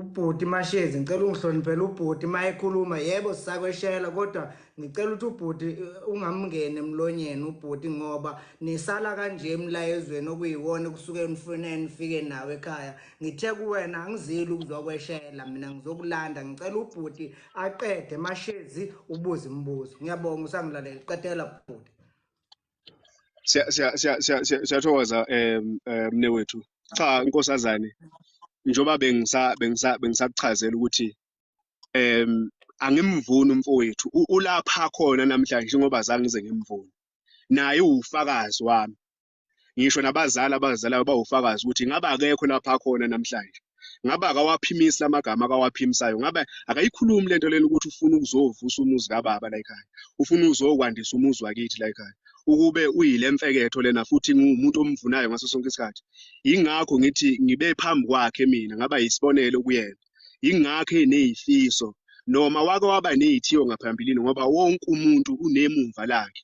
ubhuti mashezi ngicela ungihloniphele ubhuti uma ekhuluma yebo sisakweshela kodwa ngicela ukuthi ubhuti eh, ungamngeni emlonyeni ubhuti ngoba nisala kanje emlayezweni okuyiwona kusuke nifune nifike nawo ekhaya ngithe kuwena angizile ukuzokweshela mina ngizokulanda ngicela ubhuti aqede mashezi ubuze imibuzo ngiyabonga usangilalela qedela bhuti siyathokoza um mne wethu cha nkosazane njengoba bengisa bengisa bengisakuchazela ukuthi um angimvuni umfowethu ulapha khona namhlanje njengoba zange ngize ngimvuni naye uwufakazi wami ngisho nabazali abazalayo bawufakazi ukuthi ngabe akekho lapha khona namhlanje ngabe akawaphimisi amagama akawaphimisayo ngabe akayikhulumi lento lena ukuthi ufuna ukuzovusa umuzi kababa la ekhaya ufuna uzokwandisa umuzi wakithi la ekhaya ukube uyile mfeketho lena futhi ngumuntu omvunayo ngaso sonke isikhathi ingakho ngithi ngibe phambi kwakhe mina ngaba yisibonelo kuyena ingakho eneyifiso noma wake waba neyithiyo ngaphambilini ngoba wonke umuntu unemumva lakhe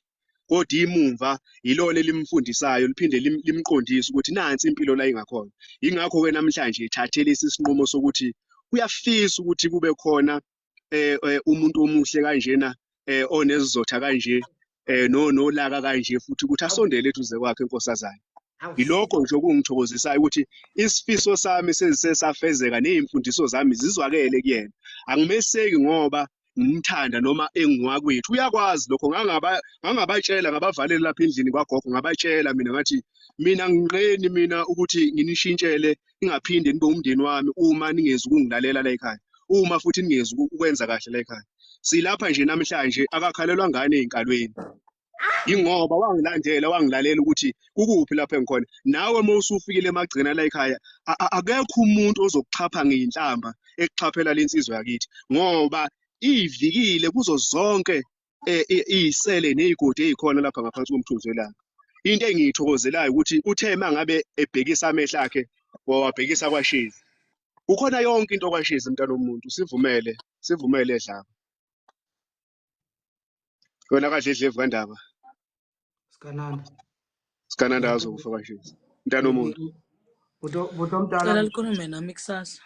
kodwa imumva yilona elimfundisayo liphinde limqondise ukuthi nansi impilo la ingakhona yingakho ke namhlanje ethathe lesi sinqumo sokuthi uyafisa ukuthi kube khona eh, eh umuntu omuhle kanjena eh onezizotha kanje eh no nolaka kanje futhi ukuthi asondele eduze kwakhe inkosazana yilokho nje okungithokozisayo ukuthi isifiso sami sezisesafezeka nezimfundiso zami zizwakele kuyena angimeseki ngoba ngimthanda noma engiwakwethu uyakwazi lokho ngangaba ngangabatshela ngabavalele lapha endlini kwagogo ngabatshela mina ngathi mina nginqeni mina ukuthi nginishintshele ingaphinde nibe umndeni wami uma ningezi ukungilalela la ekhaya uma futhi ningezi ukwenza kahle la ekhaya silapha nje namhlanje akakhalelwa ngane ezinkalweni ingoba wangilandela wangilalela ukuthi kukuphi lapho engikhona nawe uma usufikile emagcina la ekhaya akekho umuntu ozokuxhapha ngeyinhlamba ekuxhaphela lensizwa yakithi ngoba iyivikile kuzo zonke eh, iyisele nezigodi ezikhona lapha ngaphansi komthunzi welanga into engiyithokozelayo ukuthi uthe mangabe ebhekisa amehlo akhe wawabhekisa kwashezi kukhona yonke into kwashezi mntana womuntu sivumele sivumele dlaba wena kahle dlevu kandaba sikananda sikananda azokufa kashezi mntana omuntu buto buto mdala Cela likhulume nami kusasa.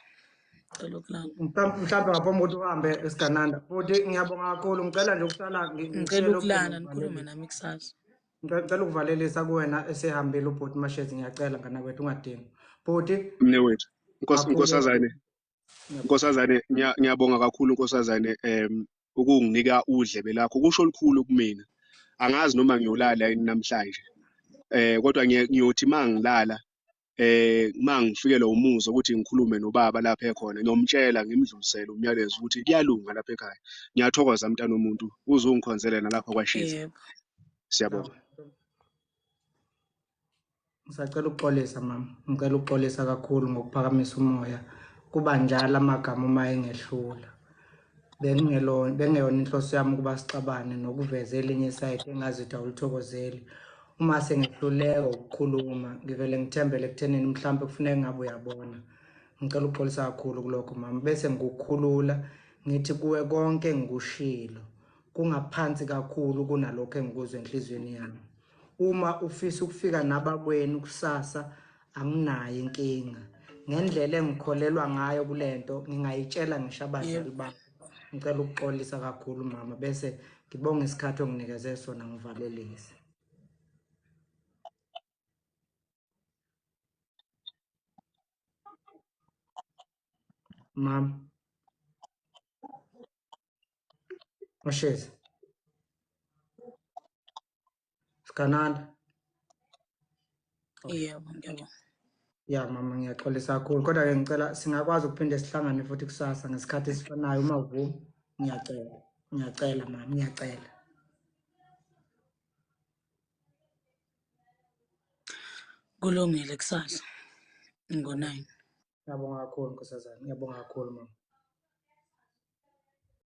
Cela ukulala. mhlampe mhlampe ngaphambi kokuthi uhambe esigananda futhi ngiyabonga kakhulu ngicela nje ukusala ngi- Ngicela ngishele ucingo ukulala ngikhulume ngivalelise nami kusasa. Ngicela ngicela ukuvalelisa kuwena esehambile ubhuti mashezi ngiyacela nganakwethu ungadingi bhuti mne wethu Nkosi- kakhulu nkosazane Nkosazane ngiyabonga kakhulu nkosazane um ukunginika udlebe lakho kusho olukhulu kumina angazi noma ngiyolala yini namhlanje eh kodwa ngiyothi mangilala eh mangifikelwa umuzi ukuthi ngikhulume nobaba lapha ekhona ngiyomtshela ngimdlulisele umyalezo ukuthi kuyalunga lapha ekhaya ngiyathokoza mntana omuntu uzungikhonzele nalapha kwashiza siyabonga Ngisacela ukuxolisa mama, ngicela ukuxolisa kakhulu ngokuphakamisa umoya. Kuba njalo amagama uma engehlula. Bengingelona bengeyona inhloso yami ukuba sixabane nokuveza elinye isayidi engazitha ulithokozeli. Uma sengehluleka ukukhuluma, ngivele ngithembele ekuthenini mhlawumbe kufuneka ngabe uyabona. Ngicela ukuxolisa kakhulu kulokho mama, bese ngikukhulula ngithi kuwe konke engikushilo kungaphansi kakhulu kunalokho engikuzwa enhliziyweni yami. Uma ufisa ukufika nabakwenu kusasa anginayo inkinga. Ngendlela engikholelwa ngayo kule nto ngingayitshela ngisho abazali bakho. Ngicela ukuxolisa kakhulu mama bese ngibonga isikhathi onginikeze sona ngivalelise. Mama. Oshezi. sikananda yebo yebo ya mama ngiyaxolisa kakhulu kodwa ke ngicela singakwazi ukuphinde sihlangane futhi kusasa ngesikhathi esifanayo uma uvuma ngiyacela ngiyacela mama ngiyacela kulungile kusasa ngo-nine ngiyabonga kakhulu nkosazana ngiyabonga kakhulu mama